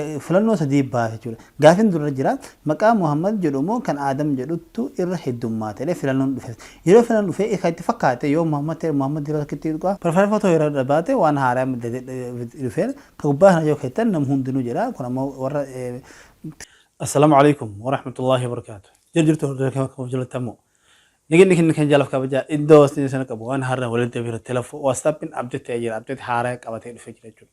Filannoo sadii baha jechuudha. Gaafin durra jira maqaa Muhammad jedhu moo kan Aadam jedhuttu irra heddummaata jedhee filannoon dhufes. Yeroo filannoon dhufe kan itti fakkaate yoo Muhammad ta'e Muhammad yeroo takkitti tuqa. Preferenfa too yeroo dhabaate waan haaraa dhufeera. Ka gubbaa kana yoo keettan nam hundinuu jedha. Kun ammoo warra Assalamu Alaikum Warahmatullahi Wabarakatuh Jira jirtu hordoftoota keenya kabajamoo jaallatamoo Nageenya keenya kan jaalaaf kabajaa iddoo isiniif sana qabu waan har'a walitti bira telefo whatsappin update ta'ee jira update haaraa qabatee dhufee jira jechuudha.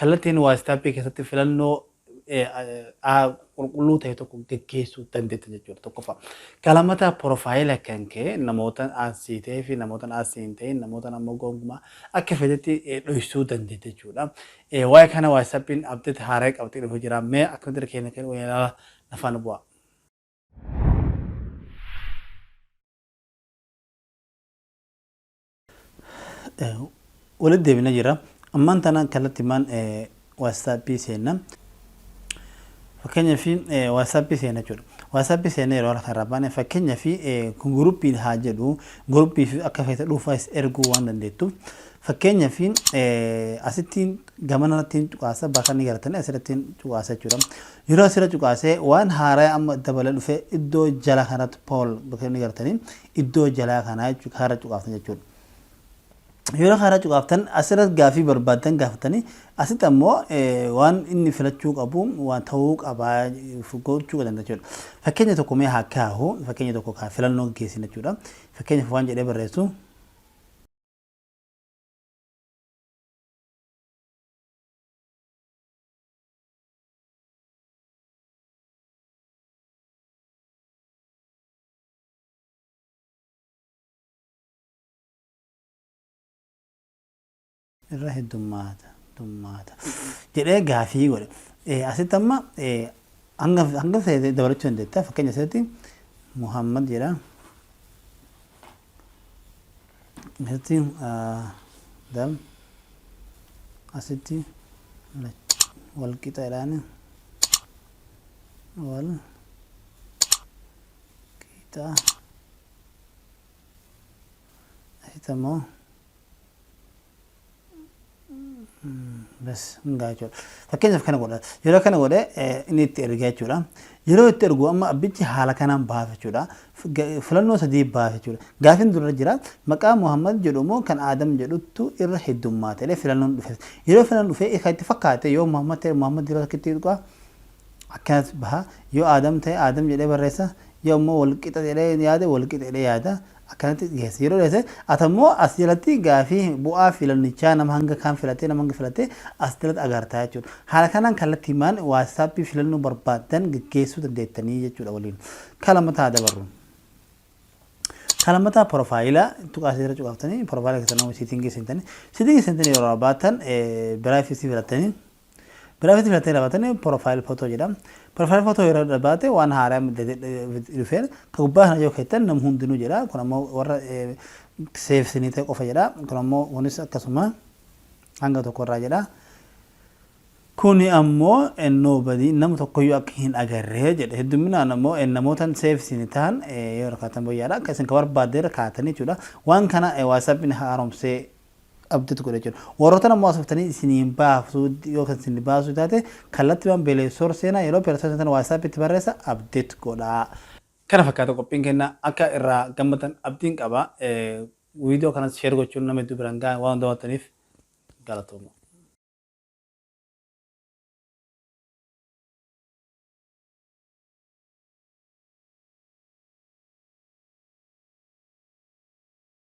Kallattiin Waastaappii keessatti filannoo a qulqulluu ta'e tokko geggeessuu dandeetta jechuudha tokkoffaa. Kalamata porofaayila kan kee namoota aansii ta'ee fi namoota aansii hin ta'in namoota ammoo gonkumaa akka feetetti dhoysuu dandeetta jechuudha. Waa'ee kana waatsaappiin abdeet haaraa qabatee dhufe jira mee akkamitti irra keenya kan ilaala nafaan bu'aa. Walitti deebina jira. Ammaan tana kallattimaan waasaappii seenna. Fakkeenyaaf waasaappii seenna jechuudha. Waasaappii seenna yeroo harka irraa baane fakkeenyaaf kun guruppiin haa jedhu guruppiif akka feete dhuunfaas erguu waan dandeettuuf fakkeenyaaf asitti gamana irratti cuqaasa bakka inni garatanii asirratti cuqaasa jechuudha. Yeroo asirra cuqaasee waan haaraa amma dabalee dhufe iddoo jala kanatti pool bakka inni garatanii iddoo jalaa kanaa jechuudha kaarra cuqaaftan jechuudha. Yeroo kaarra cuqaaftan asirratti gaaffii barbaaddan gaafatanii asitti ammoo waan inni filachuu qabu waan ta'uu qaba gochuu danda'a jechuudha. Fakkeenya tokko mee haa kaahu fakkeenya tokko kaa filannoo geessin jechuudha. Fakkeenyaaf waan jedhee barreessu. irra heddummaata heddummaata jedhee gaafii godhe. Eh, Asitti amma eh, hanga hanga feete dabalachuu dandeetta. Fakkeenya asirratti Muhammad jedha. Asitti ah, dal asitti wal qixa jedhaani wal Qiixaa Asita moo bas hundaa jechuudha. Fakkeenyaaf kana godha. Yeroo kana godhe inni itti ergaa jechuudha. Yeroo itti ergu amma abbichi haala kanaan baasa jechuudha. Filannoo sadii baasa jechuudha. Gaafiin dura jira maqaa Muhammad jedhu moo kan Aadam jedhutu irra heddummaate jedhee filannoon dhufe. Yeroo filannoon dhufe kan itti fakkaate yoo Muhammad ta'e Muhammad irra rakkitti dhugaa Akkanatti baha. Yoo Aadam ta'e Aadam jedhee barreessa. Yoo ammoo wal qixa jedhee yaade wal qixa jedhee yaada. Akkanatti dhiheessa. Yeroo dhiheesse ati ammoo as jalatti gaafii bu'aa filannichaa nama hanga kaan filatee nama hanga filatee as jalatti agartaa jechuudha. Haala kanaan kallattiimaan waatsaappii filannoo barbaaddan geggeessuu dandeettanii jechuudha waliin. Ka lammataa haa dabarru. Ka lammataa porofaayila tuqaa asirra cuqaaftanii porofaayila keessan nama siitingii seentanii siitingii seentanii yeroo baatan biraayifisii filattanii Giraafiti filattee taphatani profile photo jedha. Profile photo yeroo dhabaate waan haaraa dhufeen ka gubbaa kana yoo keettan nam hundinuu jedha. Kun ammoo warra seefsinii ta'e qofa jedha. Kun ammoo kunis akkasuma hanga tokko irraa jedha. Kuni ammoo nobody nama tokkoyyuu akka hin agarree jedha. Hedduminaan ammoo namootan seefsini ta'an yoo rakkaatan boyyaadha. Akka isin ka barbaadde irra kaatanii jechuudha. Waan kana WhatsAppin haaromsee qabdutu godha jechuudha. Warrootan ammoo asoftanii isinii hin baaftu yoo kan isin baasuu taate kallattimaan Play Store seenaa yeroo Play Store seentan WhatsApp itti barreessa update godhaa. Kana fakkaata qophiin kenna akka irraa gammaddan abdiin qaba. Viidiyoo kanas share gochuun nama hedduu biraan gahaa waan daawwattaniif galatooma.